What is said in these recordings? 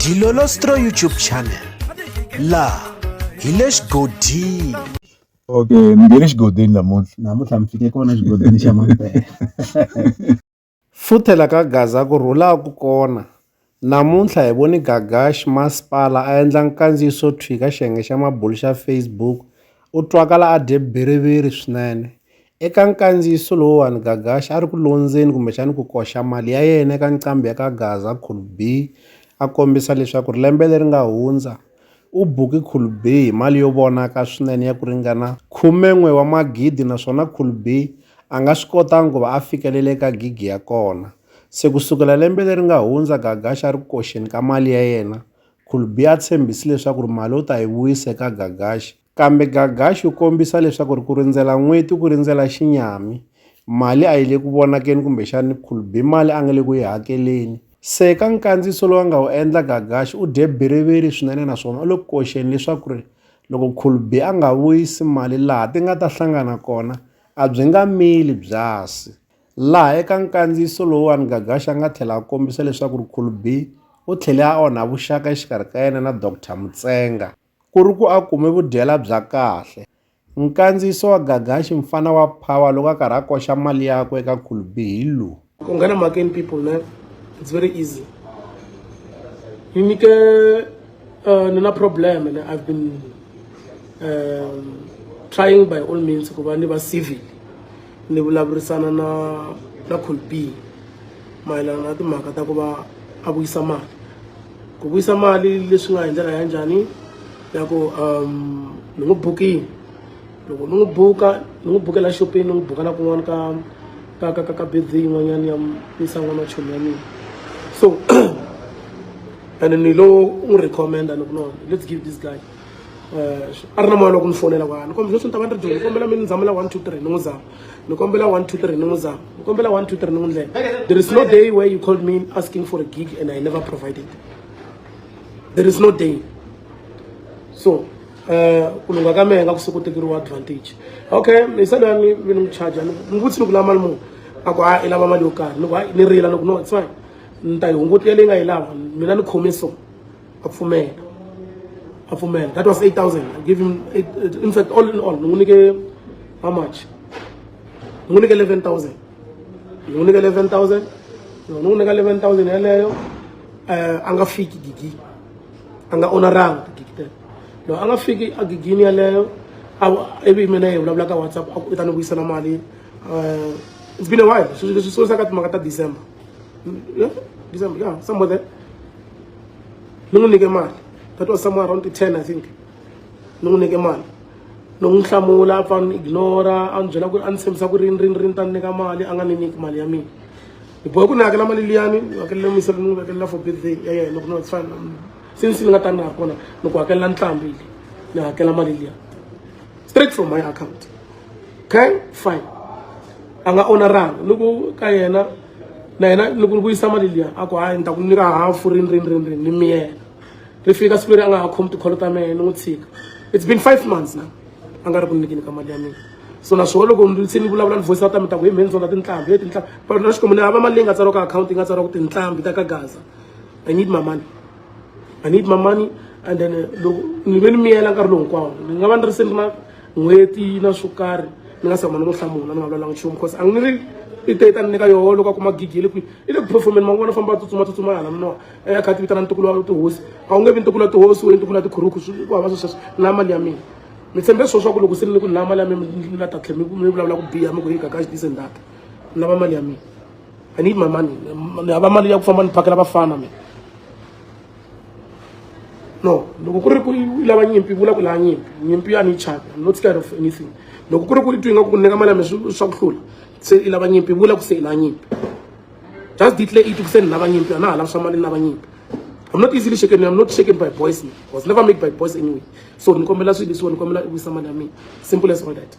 Dilolostro YouTube channel la hi le xigodini okay mi nge le xigodini namuntlha namuntlha mi fike kona xigodini xa mampela futhela ka gaza ku rhulaku kona namuntlha hi voni gagash masipala a endla nkandziyiso thwi ka xiyenge xa mabulu xa facebook u twakala a dye biriviri swinene Eka nkandziyiso lowuwani, Gagashi a ri ku londzeni kumbexani ku koxa mali ya yena eka nqambi ya ka Gaza, Cool B, a kombisa leswaku lembe leri nga hundza, u buke Cool B hi mali yo vonaka swinene ya ku ringana khume-n'we wa magidi naswona Cool B a nga swi kotanga ku va a fikelele eka gigi ya kona. Se ku sukela lembe leri nga hundza, Gagashi a ri ku koxeni ka mali ya yena. Cool B a tshembisi leswaku ri mali u ta yi vuyisa eka Gagashi. Kambe Gaga xi kombisa leswaku ri ku rindzela n'weti ku rindzela xinyami. Mali a yi le ku vonakeni kumbexani Khulbi mali a nga le ku yi hakeleni. Se eka nkandziyiso lowu a nga wu endla Gagaxi u dye biriviri swinene naswona u le ku koxeni leswaku ri loko Khulbi a nga vuyisi mali laha ti nga ta hlangana kona a byi nga mili byasi. Laha eka nkandziyiso lowuwani Gagaxi a nga tlhela a kombisa leswaku ri Khulbi u tlhele a onha vuxaka exikarhi ka yena na Doctor Mutsenga. Ku ri ku a kume vudyela bya kahle. Nkandziyiso wa Gagashi, Mfana wa Power loko a karhi a koxa mali yakwe eka Khulbi hi lowu. Ku nghena makeni people ne it's very easy. Ni nyike uh, ni na problem and I've been um, trying by all means ku va ni va civil ni vulavurisana na na Colbee mayelana na timhaka ta ku va a vuyisa mali ku vuyisa mali leswi nga hi ndlela ya njhani ya ku um ni n'wi bukini loko ni n'wi buka ni n'wi bukela xopeni ni n'wi buka na kun'wana ka ka ka ka ka bezi yin'wanyana ya yisa n'wana chomi ya mina so and ni lo n'wi recommenda ni ku no let's give this guy a ri na moya loko ni fonela kwala ni kombela leswi ni ta va ni ri dyondzo ni kombela mi ni zamela one two three ni n'wi zama ni kombela one two three ni n'wi zama ni kombela one two three ni n'wi ndlela there is no day where you called me asking for a gig and i never provided there is no day so eh, ku lungha ka mehe nga ku siku tekeriwa advantage okay ni se lani mi ni n'wi charge ni n'wi vutisi ni ku lava mali muni a ku a i lava mali yo karhi ni ku hayi ni rila ni ku no it's fine ni ta yi hunguta leyi nga yi lava mina ni khome so a pfumela a pfumela that was 8000 i give him eight, uh, in fact all in all ni n'wi nyike how much ni n'wi nyike 11000 ni n'wi nyike 11000 ni n'wi nyika 11000 yeleyo eh, a nga fiki gigi a nga onaranga tigigi tele loko a nga fiki a gigini yeleyo ivi mina hi vulavula ka whatsapp a ku i ta ni vuyisela mali um it's been a while swi swi sungulisa ka timhaka ta december Yeah, December, yeah, somewhere there. Nungunike mali. That was somewhere around the 10, I think. Nungunike mali. Nungihlamula, apfa ni ignora, a ni byela ku ri a ni tshembisa ku rini rini rini ta ni nyika mali, a nga ni nyiki mali ya mina. Ni bohe ku ni hakela mali liyani, ni hakelela misa ni n'wi hakelela for birthday ya yena, loko no it's fine. Since ni nga ta ni nga ri kona, ni ku hakelela ntlhambi leyi, ni hakela mali liya. straight from my account okay fine a nga oneranga loko ka yena na yena loko ni vuyisa mali liya a ku hayi ni ta ku nyika hafu rini rini rini rini ni miyena ri fika siku leri a nga ha khomi tikholo ta mehe ni n'wi tshika it's been five months na a nga ri ku nyikini ka mali ya mina so naswona loko se ni vulavula ni voice out ta mi ta ku hi mheni zona tinhlambi he tinhlambi but na xikombo ni hava mali leyi nga tsariwa ka akhawunti yi nga tsariwa ku tinhlambi ta ka gaza i need my money i need my money and then eh, loko ni ve ni miyela nkarhi lowu hinkwawo ni nga va ni ri se ni na n'hweti na swo karhi ni nga se huma ni n'wi hlamula ni nga vulavulanga nchumu because a ni ri i te ta ni nyika yoho loko a kuma gigi le kwihi i le ku performeni man'wana famba a tsutsuma tsutsuma hala ni noha a ya kha ti vitana ntukulu wa tihosi a wu nge vi ntukulu wa tihosi we ntukulu wa tikhuruku ku hava swi sweswo na mali ya mina mi tshembe swilo swa ku loko se ni ni ku ni lava mali ya mina ni la ta tlhe mi vulavula ku biha mi ku yi gagaxi dise ndata ni lava mali ya mina I need my money. Ni hava mali ya ku famba ni phakela vafana mina. No, loko ku ri ku lava nyimpi vula ku lava nyimpi. Nyimpi a ni chaka. I'm not scared of anything. Loko ku ri ku twi nga ku nyika mali ya mina swa ku hlula. Se i lava nyimpi vula ku se i lava nyimpi. Just declare it ku se ni lava nyimpi. A na ha lava swa mali ni lava nyimpi. I'm not easily shaken. I'm not shaken by boys. I was never made by boys anyway. So ni kombela swilo leswiwa ni kombela i vuyisa mali ya mina. Simple as all that.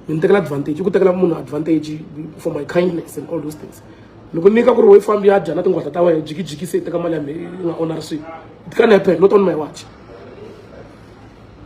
ni tekela advantage i ku tekela munhu advantage for my kindness and all those things ni ku nyika ku ri wo fambi ya dya na tinghwata ta wena jikijiki se i teka mali ya me i nga onari swilo it can happen not on my watch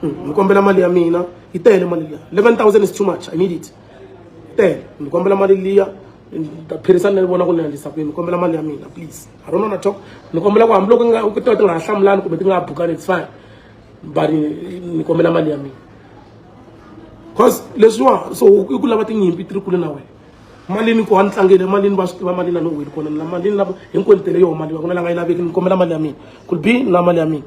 hmm, ni kombela mali ya mina yi tele mali liya eleven thousand is too much i need it tele ni kombela mali liya phirisan ni vona ku ni endlisa kwini ni kombela mali ya mina please i don't wanna talk ni kombela ku hambiloko ti nga ha hlamulani kumbe ti nga ha bukani it's fine bani ni kombela mali ya mina cause leswiwa so i ku lava tinyimpi ti ri kule na wena malini ku hantlangele malini va swi tiva malini a ni weli kona na malini lava hinkwenu tele yoho mali va ku na la nga yi laveki ni kombela mali ya mina ku bi na mali ya mina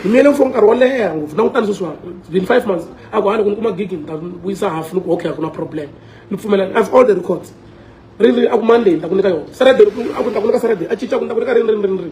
ni miyele for nkarhi wo leha ngopfu langutani sweswiwa been five months a ku hana ku ni kuma gigi ni ta vuyisa half ni ku okay a ku na problem ni pfumelani have all the records ri ri a ku monday ni ta ku nyika yona saturday a ku ni ta ku nyika saturday a cinca ku ni ta ku nyika rini rini rini rini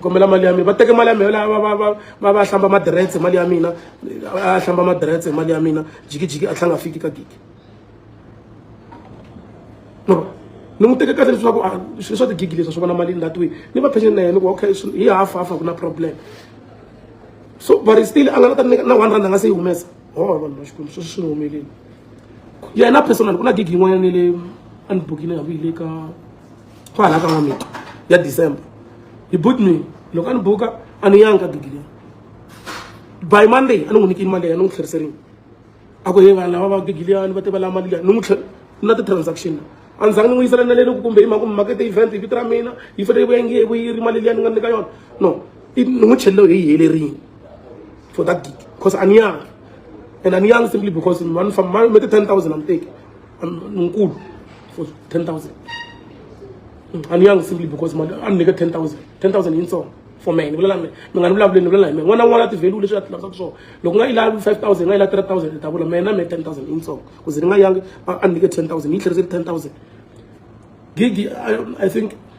kombela mali ya mina va teke mali ya mina va va va va va hlamba madiretse mali ya mina a hlamba madiretse mali ya mina jikijiki a tlhanga fiki ka gigi no ni n'wi teke kahle leswaku ah, swilo swa tigigi leswi swi vona mali that way ni va pension na yena ku okay hi half half ku na problem so but still a nga na ta na one rand a nga se yi humesa ho oh, vanhu va xikwembu sweswi swi ni humeleli yena personal ku na gigi yin'wanyana le a ni bukile hambi hi le ka kwalaho ka n'wamita ya december he booked me loko a ni buka a ni yangi ka gigi leyi by monday a ni n'wi nyikini mali leyi a ni n'wi tlheriserini a ku he vanhu lava va gigi liyani va tiva la mali liya ni n'wi tlhela na ti-transaction la a ni zangi ni n'wi yisela na leni ku kumbe hi mhaka makete event hi vito ra mina yi fanele yi vuya nge vu yi ri mali liya ni nga nyika yona no ni n'wi tlhelelo hi yi helerile for that gig because a ni yangi and a ni yangi simply because ma ni famba ma me ti-ten thousand a ni teki nkulu for 10000 aniyanga simply because mali a ni nyika 10000 10000 yintsongo for me ni vulela mi mi nga ni vulavuleli ni vulela hi mina n'wana n'wana a ti-value leswi a ti lavisaka swona loko nga yi lavi 5000 nga yi lavi 3000 ni ta vula mina me 10000 yintsongo ku ze ni nga yangi a ni nyike 10000 yi tlheriseli 10000 gigi I, i think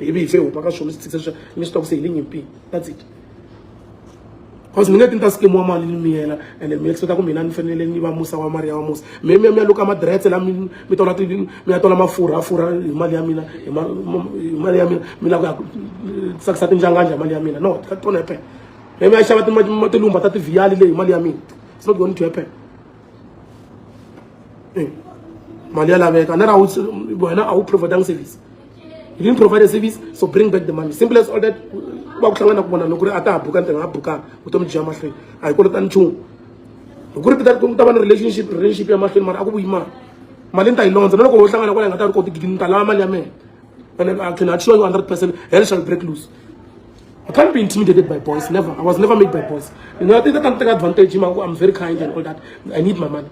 ibe ife upa ka swona swi tshikisa swa mi swi twa ku se hi le nyimpini that's it cause mi nge ti ni ta sikemiwa mali ni mi yena ene mi expecta ku mina ni fanele ni va musa wa mali ya wa musa mi mi ya mi ya luka madiretse la mi mi tola ti mi ya tola mafurha a furha hi mali ya mina hi ma- ma- hi mali ya mina mi lava ku ya tsakisa tinjanganja hi mali ya mina no ka tona happen mi mi ya xava ti- ma- tilumba ta tivhiyali leyi hi mali ya mina it's not going to happen Eh, mali ya laveka na ra wena a wu providanga service you didn't provide a service so bring back the money simple as all that va ku hlangana ku vona loko ri a ta ha buka ntirho nga bukanga vutomi byi ya mahlweni a hi kolotani nchumu hi ku ri pita ta va ni relationship relationship ya mahlweni mara a ku vuyi mali mali ni ta yi londza na loko ho hlangana kwala hi nga ta ri koti gidi ni ta lava mali ya mina and I can assure you 100 percent hell shall break loose I can't be intimidated by boys never I was never made by boys you know I think that I'm taking advantage I'm very kind and all that I need my money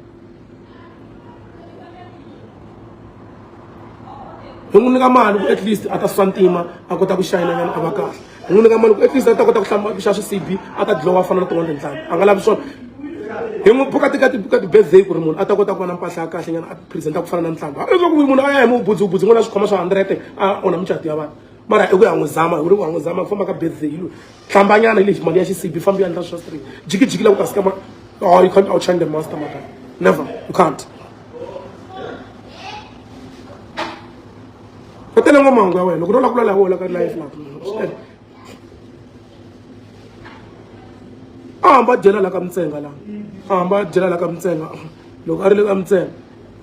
hi n'wi nyika mali ku at least a ta swa ntima a kota ku xayinanyana a va kahle hi n'wi nyika mali ku at least a ta kota ku hlamba ku xa swisibi a ta dlowa a fana na tin'wana tintlhanu a nga lavi swona hi n'wi buka tika tibuka ti-birthday ku ri munhu a ta kota ku va na mpahla ya kahle nyana a presenta ku fana na ntlhamba leswaku munhu a ya hi mu budziwubudzi n'wana swikhoma swa hundred a onha mucati ya vanhu mara i ku ya n'wi zama hi ku ri ku ya n'wi zama ku famba ka birthday yi loyi hlambanyana hi lexi mali ya xisibi fambi ya endla swa straight jikijiki la ku ta sika ma oh you can't outshine the master maka never you can't u tele ngwa mahungu ya wena loko no lakulwa laha wola ka life la a hamba a dyela la ka mintsenga la a hamba a dyela la ka mintsenga loko a ri le ka mintsenga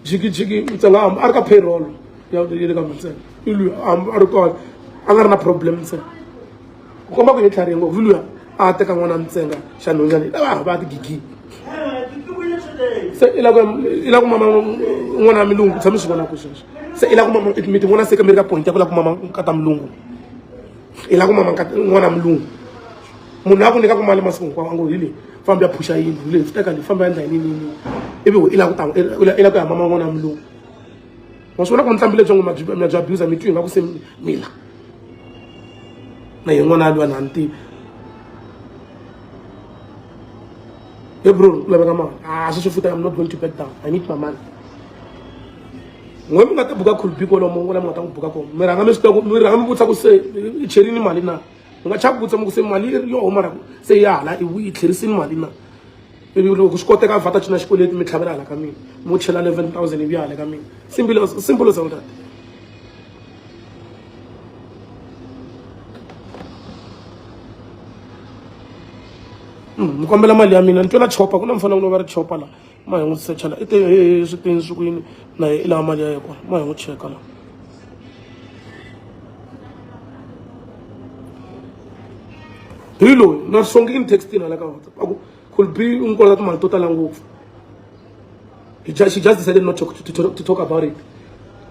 jikijiki u tsala a ri ka payroll ya le ka mantsena i luya a ri kona a nga ri na problem ntsena u komba ku hi tlharihe ngopfu luya a teka n'wana ntsenga xa nhonyana i lava va ti gigini se i la ku i la ku mama n'wana milungu tshami swi vona ku sweswo se i la ku mama mi ti vona se ka mi ri ka point ya ku la ku mama ka ta milungu i lava ku mama n'wana mulungu munhu a ku nyika ku mali masiku hinkwawo a ngo hi leyi fambi ya phuxa yini hi leyi swi teka leyi fambi ya endla hi ninini ivi i lava ku ta i lava ku ya mama n'wana mulungu wa swi vona ku nihlambi lebyi ngo ma byi abusa mi twi hi nga ku se mila na hi n'wana a lwa na ni tivi Hey bro, I'm not going to back down. I need my money. n'we mi nga ti buka khulbi kolomo ku la mi nga ta n'wi buka kona mi rhanga mi swi tiva ku mi rhanga mi vutisa ku se i cherini mali na mi nga chava vutisa mi ku se mali yo huma ra ku se ya hala i yi tlherisini mali na ivi loko swi koteka vata cina xikweleti mi tlhavela hala ka mina mo chela eleven thousand ivi ya hala ka mina simple simple as all that ni kombela mali ya mina ni twela chopa ku na mufana ku no va ri chopa laha ma hi n'wi secha la i te swi teni swi kwini na i lava mali ya ye kona ma hi n'wi cheka la hi loyi na songi in textini hala ka whatsapp aku could be u n'wi kolota timali to tala ngopfu she just decided not to, to, to, to talk about it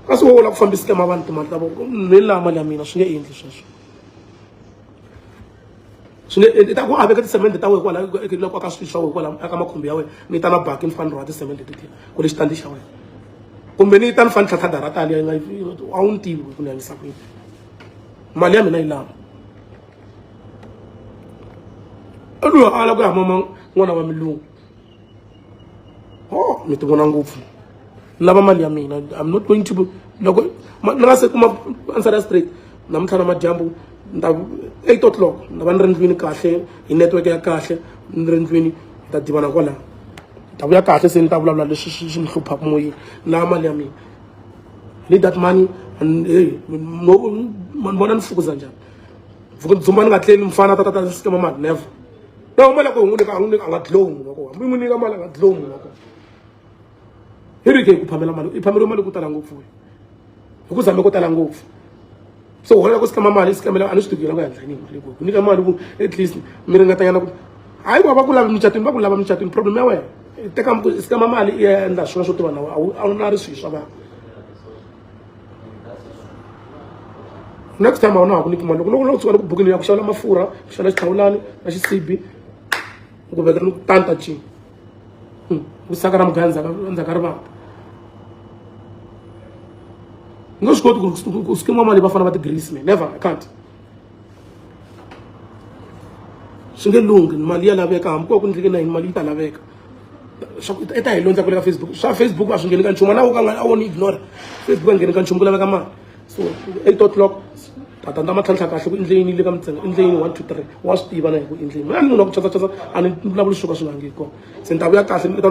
kasi wo la ku fambisile ma vanhu timali ta voko ni lama mali ya mina swi nge endli sweswo swi nge endli ta ku a veka tisemende ta wena kwala loko aka swilo swa wena kwala aka makhumbi ya wena ni ta na baki ni fani rhwala tisemende titini ku ri xitandi xa wena kumbe ni ta ni fani tlhatlha dara tani ya nga a wu ni tivi ku ni yangisa kwini mali ya mina yi lama loyi a ala ku ya mama n'wana wa milungu oh mi ti vona ngopfu ni lava mali ya mina i'm not going to loko ni nga se kuma answer ya straight namuntlha na madyambu ni ta eight o'clock ni ta va ni ri ndlwini kahle hi network ya kahle ni ri ndlwini hi ta divana kwalaho ni ta vuya kahle se ni ta vulavula leswi swi ni hluphaka moyeni ni lava mali ya mina need that money and hey mani vona ni fukuza njhani ndzi dzumba ni nga tleli mfana ta ta ta ni sikema mali never na mali ya ku hi n'wi nyika a n'wi nyika a nga dlow munhu wa kona hambi n'wi nyika mali a nga dlow munhu wa kona hi ri ke hi ku phamela mali i phameriwe mali ku tala ngopfu hi ku zame ku tala ngopfu so wena loko sikama mali sikamela a ni swi tivi yena ku yandla yini mali ku nyika mali ku at least mi ringatanyana ku hayi ku va ku lavi mucatwini va ku lava mucatwini problem ya wena teka sikama mali i ya endla swin'wana swo tiva na wena a wu na ri swihi swa vanhu next time a wu na ha ku nyiki mali loko loko loko tshuka loko bukini ya ku xavela mafurha ku xavela xihlawulani na xisibi ku vekela ni ku tanta cini hmm, ku saka ra mugaya ndzhaka ndzhaka ri vanga ni nga swi koti ku ku skima mali va fana va ti-greece me never i can't swi nge lunghi mali ya laveka hambi ko ku ndleke na yini mali yi ta laveka i ta hi londza ku le ka facebook swa facebook a swi ngheni ka nchumu na wo ka nga a wo ni ignore facebook a ngheni ka nchumu ku laveka mali so eight o'clock tata ndza ma tlhantlha kahle ku endleyini le ka mintsengo endleyini one two three wa swi tiva na hi ku endleyini mina ni munhu wa ku chasa chasa a ni vulavuli swo ka swi nga ngi kona se ni ta vuya kahle ni ta